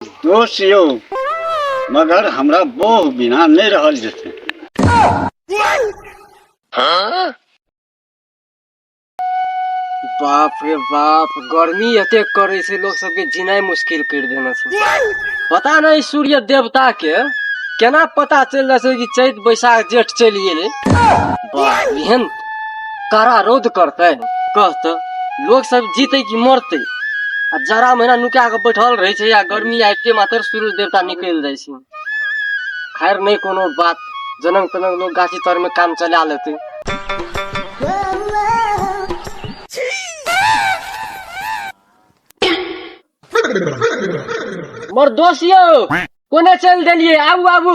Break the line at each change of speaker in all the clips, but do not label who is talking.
दोस्त यौ मगर हमरा बोह बिना नहि रहल जेतै
बाप रे बाप गर्मी एते करे से लोग सबके जीनाई मुश्किल कर देना छै पता नहीं सूर्य देवता के केना पता चल जाए कि चैत बैसाख जेठ चल गए बाप एहन कड़ा रौद करतै कहतै लोग सब जीतै कि मरतै आ जरा महीना नुका कऽ बैठल रहै छै या गर्मी आबिते मात्र सूर्य देवता निकलि जाइ छै खैर नहि कोनो बात जनम तनम लोग गाछी तर में काम चला लेतै मर दोस्त यौ कोने चलि देलियै आबू आबू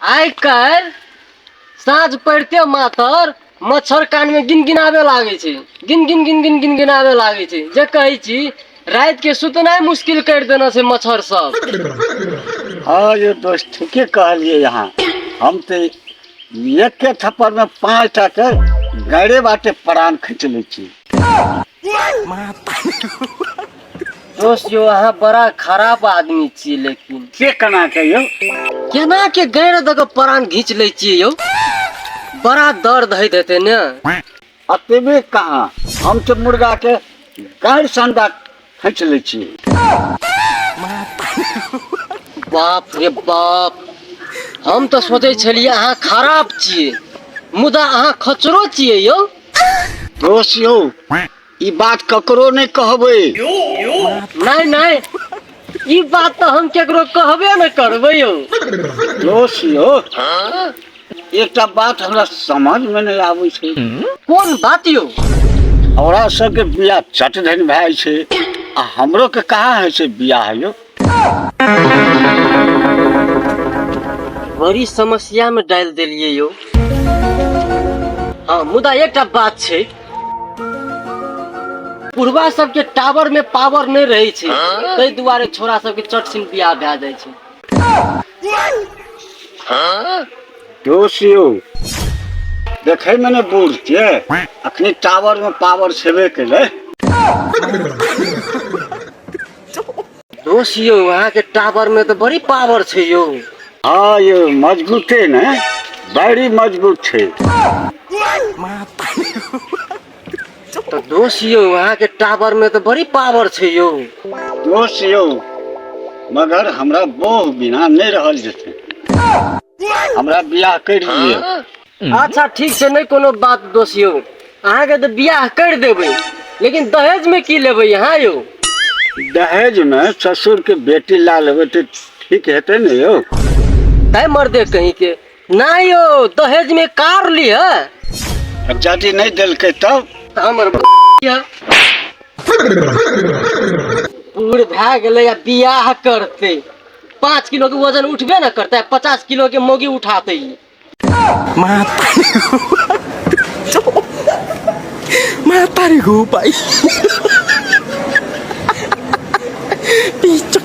आइ काल्हि साँझ पड़िते मातर मच्छर कानमे गिन गिनाबे लागै छै गिन गिन गिन गिन गिन गिनाबे लागै छै जे कहै छी रातिके सुतनाइ मुश्किल करि देने छै मच्छर सब हाँ ये दोस्त
ठीके कहलिए यहाँ हम तो एक के थप्पड़ में पाँच टा के गड़े बाटे प्राण खींच ले छी माता
दोस्त जो अहाँ बड़ा खराब आदमी छियै लेकिन से केना के यौ
केना के
गैर दऽ के प्राण घीच लै छियै यौ बड़ा दर्द होइत हेतै ने अतबे
कहाँ हम तऽ मुर्गा के गाड़ि संडा हम चले छी
बाप रे बाप हम तो सोचे छलिए अहाँ खराब छिए मुदा अहाँ खचरो छिए यो दोस्त
यो ई बात ककरो नहीं कहबे नहीं
नहीं ई बात तो हम केकरो कहबे न करबे यो दोस्त
यो एकटा बात हमरा समझ में नहीं आवे छे कोन बात
यो औरा
सब के बियाह चट धन भाई छे आ हमरो के कहा है छे बियाह यो
बड़ी समस्या में डाल दिलिए यो हाँ मुदा एकटा बात छे पूर्वा सबके टावर में पावर नहीं रहे छे ताहि दुआरे छोरा सबके चट सिन बियाह भए जाइ छे
दोष यौ देखैमे ने बूढ़ छियै अखनी टावरमे पावर छेबे केलै
दोष यौ अहाँके टावरमे तऽ बड़ी पावर छै यौ हँ यौ
मजबूते ने बड़ी मजबूत छै
तो दोस्त यो वहाँ के टावर में तो बड़ी पावर छे यो दोस्त यो
मगर हमरा बोह बिना नहीं रहल जैसे हमरा बियाह कर लिए हाँ? अच्छा ठीक से
नहीं कोनो बात दोस्त यो अहाँ के तो बियाह कर देवे लेकिन दहेज में की लेवे यहाँ यो दहेज
में ससुर के बेटी ला लेवे तो ठीक है ना यो तय
मर्दे कहीं के नहि यौ दहेज में कार लिय अब जाति
नहीं दिल के तब तऽ हमर ब-
यऽ। बूढ़ भए गेलै आ बियाह करते पाँच किलो के वजन उठबे न करते आ पचास किलो के मोगी उठाते ई।
Matari ko pa. Pichok.